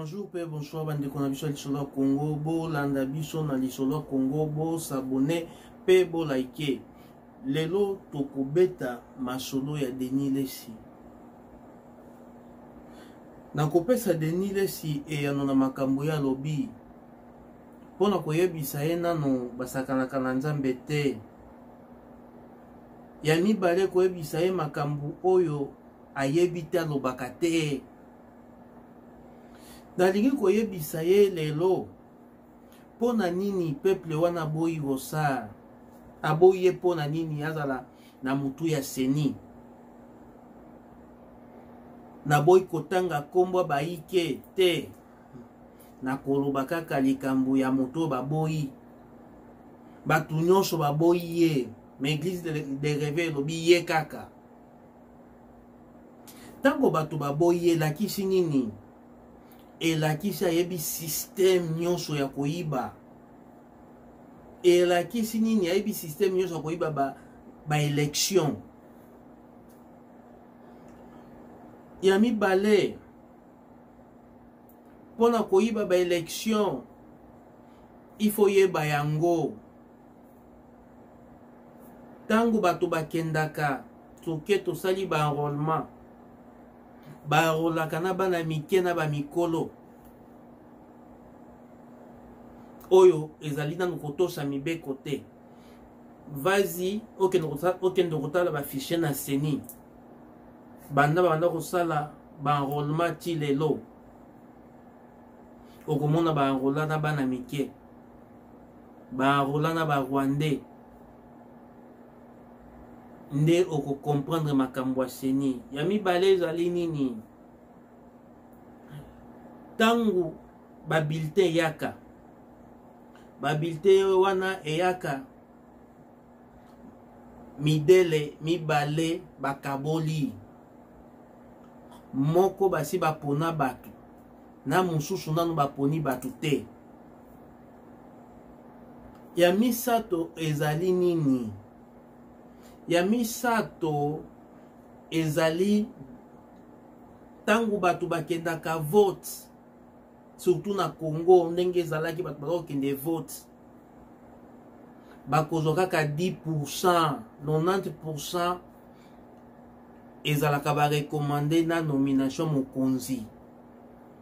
bonjour mpe bonsoir bandeko na biso ya lisolo ya congo bolanda biso na lisolo ya congo bosabone mpe bolaike lelo tokobeta masolo ya denis lesi nakopesa Denis Lesi eyano na makambo ye alobi mpo na koyebisa ye nano basakanaka na Nzambe te. Ya mibale koyebisa ye makambo oyo ayebi te alobaka te. Nalingi koyebisa ye lelo mpo na nini peuple wana aboyi rosar aboyi ye mpo na nini azala na motu ya seni naboyi kotanga nkombo baike te nakoloba kaka likambo ya moto oyo baboyi bato nyonso baboyi ye ma eglise de, de reve elobi ye kaka ntango bato baboyi ye elakisi nini elakisi ayebi systeme nyonso ya koyiba elakisi nini ayebi systeme nyonso ya koyiba ba, ba election ya mibale mpo na koyiba ba election il faut yeba yango ntango bato bakendaka soke tosali baenrollement baenrolaka na bana mike na bamikolo oyo ezali nanu kotosa mibeko te vazi okende kotala bafiche na seni banda babanda kosala baenrollement ti lelo okomona baenrola na bana mike barola na barwandais nde okokomprendre makambo ya seni ya mibale ezali nini ntango babiltin eyaka babiltin wana eyaka midele mibale bakaboli moko basi bapona bato na mosusu nano baponi bato te ya misato ezali nini ya misato ezali ntango bato bakendaka vote surtout na congo ndenge ezalaki bato bazakokende vote bakozwa kaka 10 pourcent 90 pourcent ezalaka barekomande na nomination mokonzi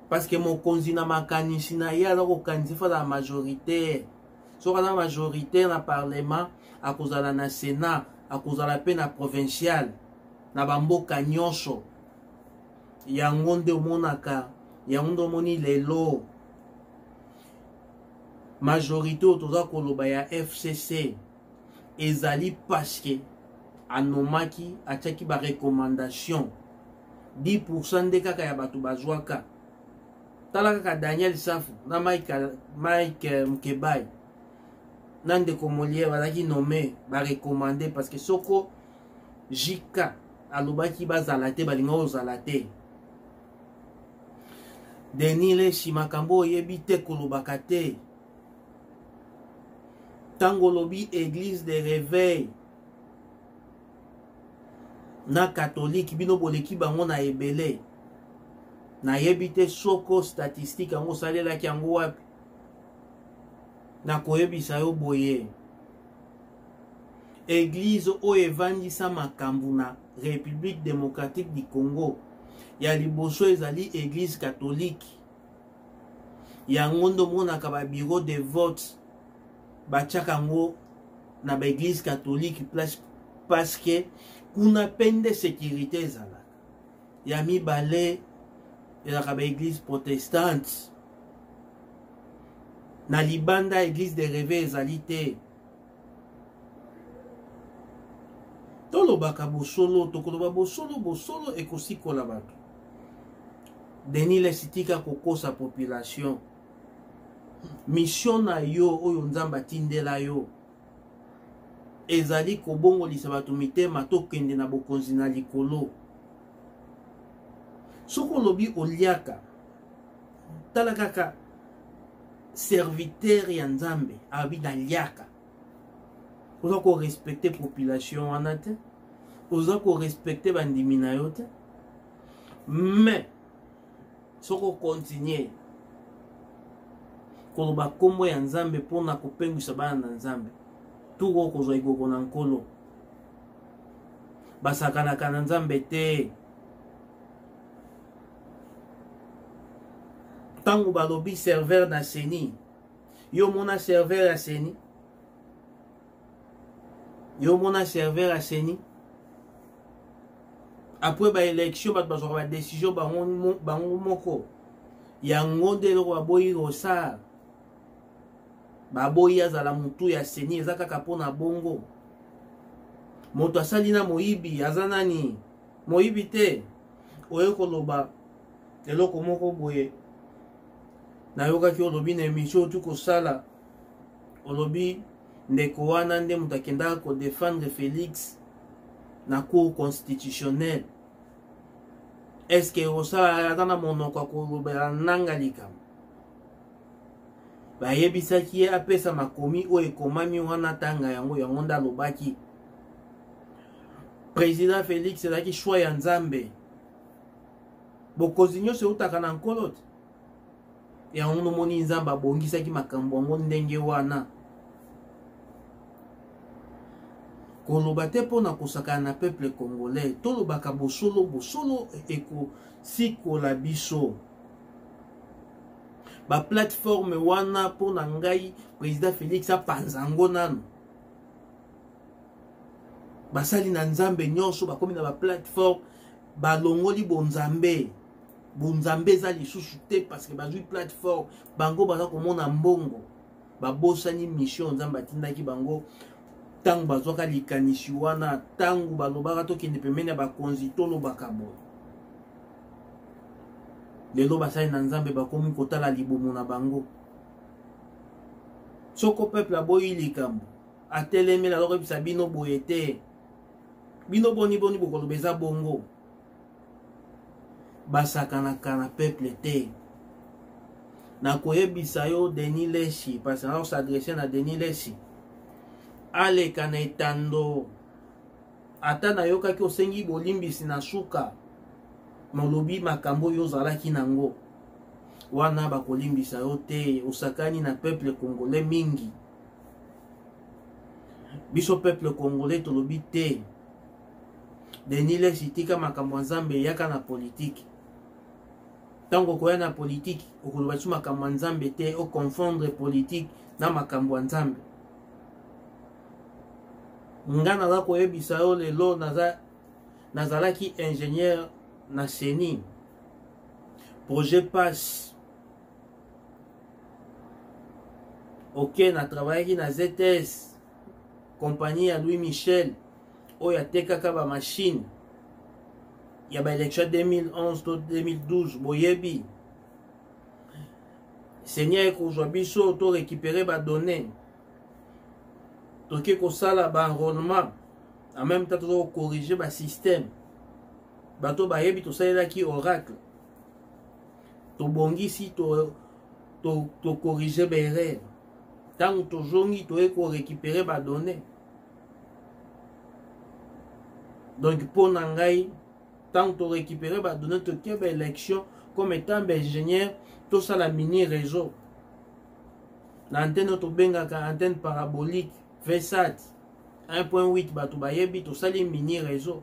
parce que mokonzi na makanisi na ye aza kokanisa fo azala majoritaire soki aza majoritaire na parlement akozala na senat akozala mpe na provincial na bamboka nyonso yango nde omonaka yango nde omoni lelo majorité oyo toza koloba ya fcc ezali parceke anomaki atiaki barecommandation 10% nde kaka ya bato bazwaka tala kaka daniel safu na mike, mike eh, mkebai na ndeko moliere bazalaki nomme barecommande parce que soko jk alobaki bazala te balinga ozala te denis leshi makambo oyebi te kolobaka te ntango olobi église de réveil na katolike bino boleki bango na ebele nayebi te soko statistike yango osalelaki yango wapi nakoyebisa yo boye eglize oyo evandisa makambo na république démocratique du congo ya liboso ezali eglize katolike yango nde omonaka babiro de vote batiaka yango na baeglise katolike place paske kuna mpe nde sekirite ezalaka ya mibale ezalaka baeglise protestante na libanda eglise de reve ezali te tolobaka bosolo tokoloba bosolo bosolo ekosikola bato denis lesitika kokosa population mission na yo oyo nzambe atindela yo ezali kobongolisa bato mitema tokende na bokonzi na likolo soki olobi oliaka tala kaka serviteur ya nzambe alobi naliaka oza korespecte population wana te oza korespecte bandimi na yo te mais soki okontinue koloba nkombo ya nzambe mpo na kopengwisa bana na nzambe turu okozwa ekoko na nkolo basakanaka na nzambe te ntango balobi serveur na seni yo omona serveur ya seni yo omona serveur ya seni apres baélection bato bazwaka badécision bango moko yango nde eloko baboyi rosar baboyi azala motu ya seni eza kaka mpo na bongo moto asali na moyibi aza nani moyibi te oye koloba eloko moko boye nayokaki olobi na emission otu kosala olobi ndeko wana nde moto akendaka kodefendre felix na cour constitutionnel eske osala ata na monoko ya kolobela nanga likambo bayebisaki ye apesa makomi oyo ekomami wana tanga yango yango nde alobaki président félix ezalaki choix ya nzambe bokonzi nyonso eutaka na nkolo te yango nomoni nzambe abongisaki makambo yango ndenge wana koloba te mpo na kosakana na peuple congolais tolobaka bosolo bosolo ekosikola biso baplateforme wana mpo na ngai président félix apanza yango nano basali na nzambe nyonso bakomi na baplateforme balongoli bonzambe bonzambe eza lisusu te parce que bazwi plateforme bango baza komona mbongo babosani mission nzambe atindaki bango ntango bazwaka likanisi wana ntango balobaka tokende pembeni ya bakonzi tolobaka boye lelo basali na nzambe bakomi kotala libumu na bango soko peuple aboyi likambo atelemela alokobisa bino boye te bino boni boni bokoloba eza bongo basakanaka na peuple te nakoyebisa yo denis leshi parce na osadresse na denis leshi aleka na etando ata nayokaki osengi bolimbisi na suka molobi makambo oyo ozalaki nango wana bakolimbisa yo te osakani na peuple congolais mingi biso peuple congolais tolobi te denis leshi tika makambo ya nzambe eyaka na politiki ntango okoya na politiki okoloba ti makambo ya nzambe te oconfondre politiki na makambo ya nzambe nga naza koyebisa yo lelo naza nazalaki ingénieur na ceni projet passe ok na travaillaki na zs compagnie ya louis michel oyo atekaka ba machine ya ba election 2011 to 2012 boyebi seigneur ekozwa biso to récupérer ba données toke kosala ba enrôlement en même temps tozo corriger ba système bato bayebi tosalelaki oracle tobongisi to tokorige to, to baerreur ntango tozongi toye korekipere badonne donc mpo na ngai ntango torécupere badonne totie baélection comme étant baingénieur tosala mini réseau na antenne oyo tobengaka antenne parabolique vsat 1.8 bato bayebi tosali mini réseau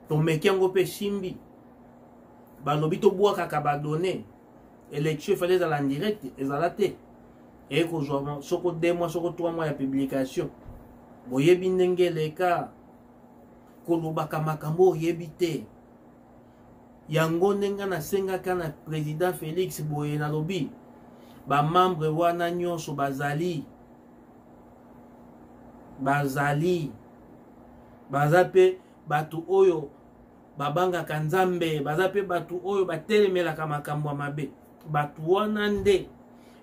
tomeki yango mpe esimbi balobi tobwakaka badonne election efali ezala en direct ezala te eye kozwa soko 2 mois soko 3 mois ya publication boyebi ndenge eleka kolobaka makambo oyebi te yango ndenge nasengaka na président félix boye nalobi bamembre wana nyonso bazali bazali baza mpe bato oyo babangaka nzambe baza mpe bato oyo batelemelaka makambo ya mabe bato wana nde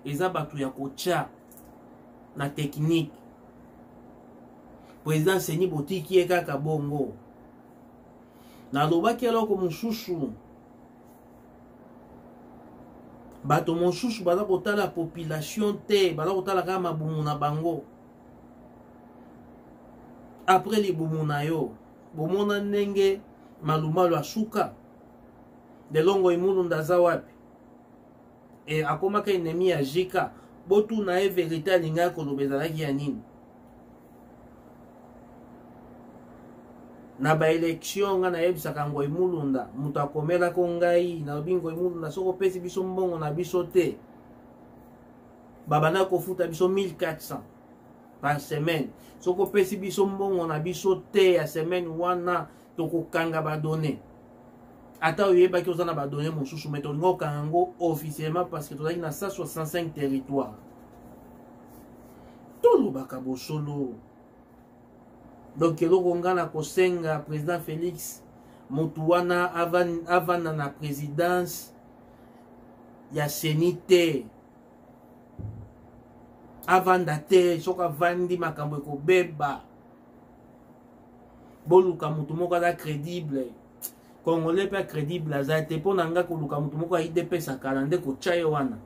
eza bato ya kotya na teknike président seni botiki ye kaka bongo nalobaki eloko mosusu bato mosusu baza kotala population te baza kotala kaka mabumu na bango apres libumu na yo bomona ndenge malumalu asuka delongo imunu ndaza wapi e akomaka enemi ya jika botuna ye verite alingaki koloba ezalaki ya nini na baelektio ngai nayebisaka ngoi mulunda moto akomelako ngai nalobi ngoi mulunda soki opesi biso mbongo na biso te babandaki kofuta biso 1400 par semaine soki opesi biso mbongo na biso te ya semaine wana tokokanga badonne ata oyebaki oza na badonne mosusu mai tolingi okanga yango officiellement parce que tozalaki na 165 territoire tolobaka bosolo donc eloko ngai na kosenga président félix motu wana avanda na présidence ya seni te avanda te soki avandi makambo ekobeba boluka motu moko aza crédible congolais mpe crédible aza te mpo na ngai koluka motu moko ya idps akala nde kotya ye wana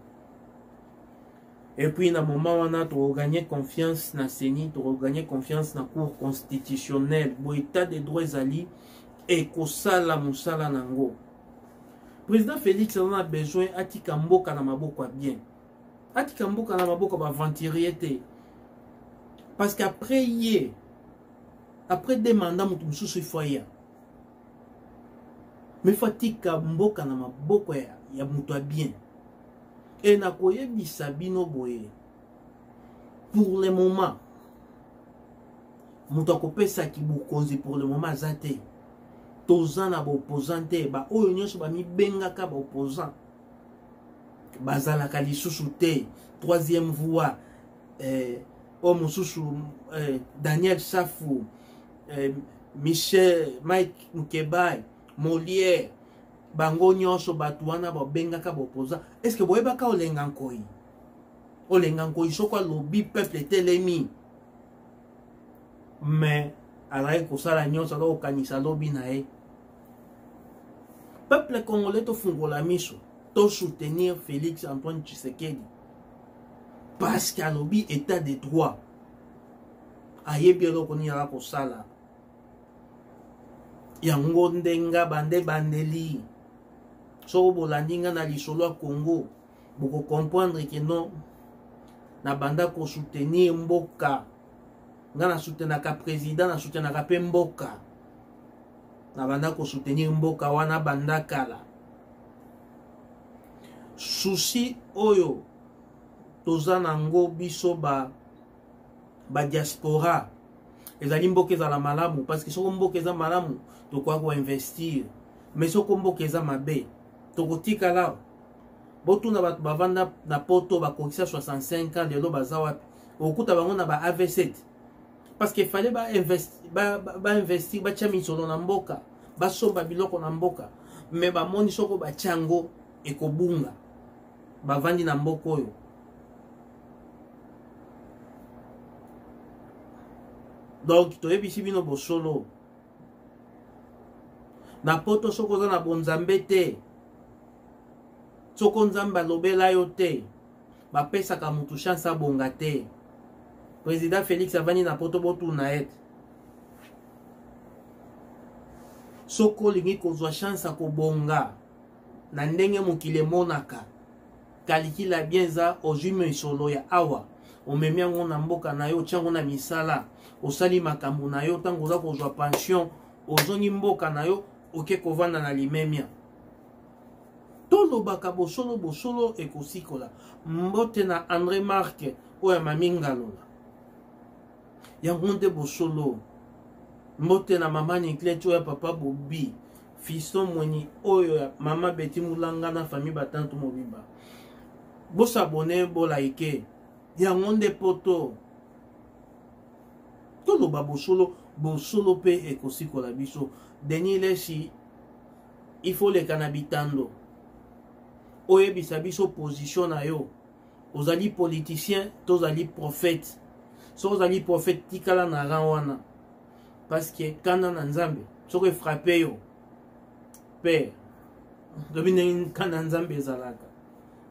epuis na moment wana tokogagne confiance na seni tokogagne confiance na cour constitutionnelle bo état de droit ezali ekosala mosala na yango président félix aza na besoin atika mboka na maboko ya bien atika mboka na maboko ya baaventurier te parce que après ye après de mandat moto mosusu ifo aya mais fo atika mboka na maboko ya, ya moto ya bien e nakoyebisa bino boye pour le moment moto akopesaki bokonzi pour le moment aza te toza na baopposant te baoyo nyonso bamibengaka baopposant bazalaka lisusu te troisième voie eh, oyo mosusu eh, daniel safu eh, michel mike mukebai moliere bango nyonso bato wana babengaka baopposant estce boyebaka olenga nkoi olenga ngoi soko alobi peuple etelemi mais azalaki kosala nyonso azalaki kokanisa lobi na ye peuple congolais tofungola miso tosoutenir félix antoine tshisekedi parce que alobi état de droit ayebi eloko nini aza kosala yango nde nga bande bandeli soko bolandi nga na lisolo ya congo boko comprendre que non nabanda ko soutenir mboka nga na soutenaka président na soutenaka mpe mboka nabanda ko soutenir mboka wana banda kala souci oyo toza nango biso ba ba diaspora ezali mboka ezala malamu parce que soko mboka eza malamu tokoki koinvestir mais soko mboka eza mabe tokotikala botuna bato bavanda na poto bakokisa 65 ans lelo baza wapi okuta bango na ba avc parce que fallait bainvestir ba, ba, ba batya misolo na mboka basomba biloko na mboka me bamoni soko batya yango ekobunga bavandi na mboka oyo donc toyebisi bino bosolo na poto soki oza na bonzambe te soko nzambe alobela yo te bapesaka motu chance abonga te président félix avandi na poto botuna ete soki olingi kozwa chance ya kobonga na ndenge mokili emonaka kalikila bien eza ozwi misolo ya awa omemi yango na mboka na yo otya yango na misala osali makambo na yo ntango oza kozwa pension ozongi mboka na yo oke kovanda na limemia tolobaka bosolo bosolo ekosikola mbote na andré marke oyo ya mami ngalola yango nde bosolo mbote na mama nikleti oyo ya papa bobi Fiston Mweni oyo ya Mama Betty Mulanga na famille Batantu mobimba. Bo s'abonner, bo liker. Yango nde poto. Toloba bosolo, bosolo pe ekosikola biso. Denis Lesi, il faut leka na bitando. Oyebisa biso position na yo. Ozali politicien, tozali prophète. So ozali prophète, tikala na rang wana. parce que kanda na nzambe soko efrape yo père lobi ndenge kanda nzambe ezalaka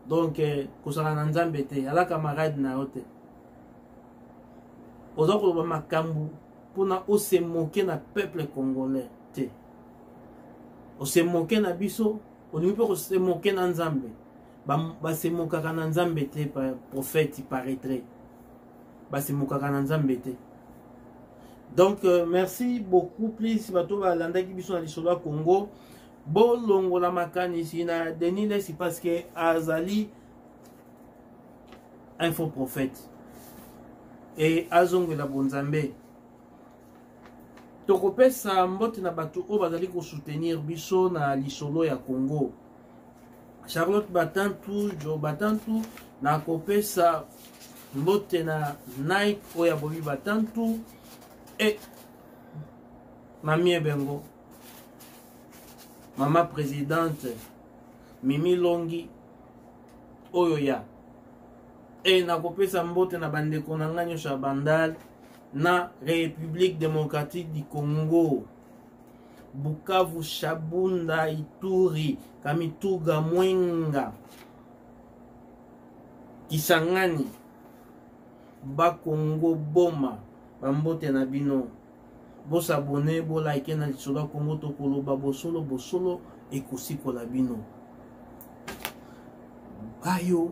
donc eh, kozala na nzambe te ala camarade na yo te oza koloba makambo mpona ose moke na peuple congolais te ose moke na biso olingi mpe kose moke na nzambe basemokaka na nzambe te prophète paraîtrait basemokaka na nzambe te donc euh, merci beaucoup please bato balandaki biso na lisolo ya congo bolongola makanisi na denis lesi parce que azali un faux prophète e azongela bonzambe tokopesa mbote na bato oyo bazali kosoutenir biso na lisolo ya congo charlotte batantu jo batantu nakopesa mbote na nike oyo ya bobi batantu e mami ebengo mama presidente mimi longi oyo ya e nakopesa mbote na bandeko na ngai nyonso ya bandal na république démocratique du congo Bukavu, Shabunda, Ituri, Kamituga, Mwenga, Kisangani, Bakongo, Boma, bambote na bino. Bosabone, bolike na lisolo ya Kongo tokoloba bosolo bosolo ekosikola bino. Bayo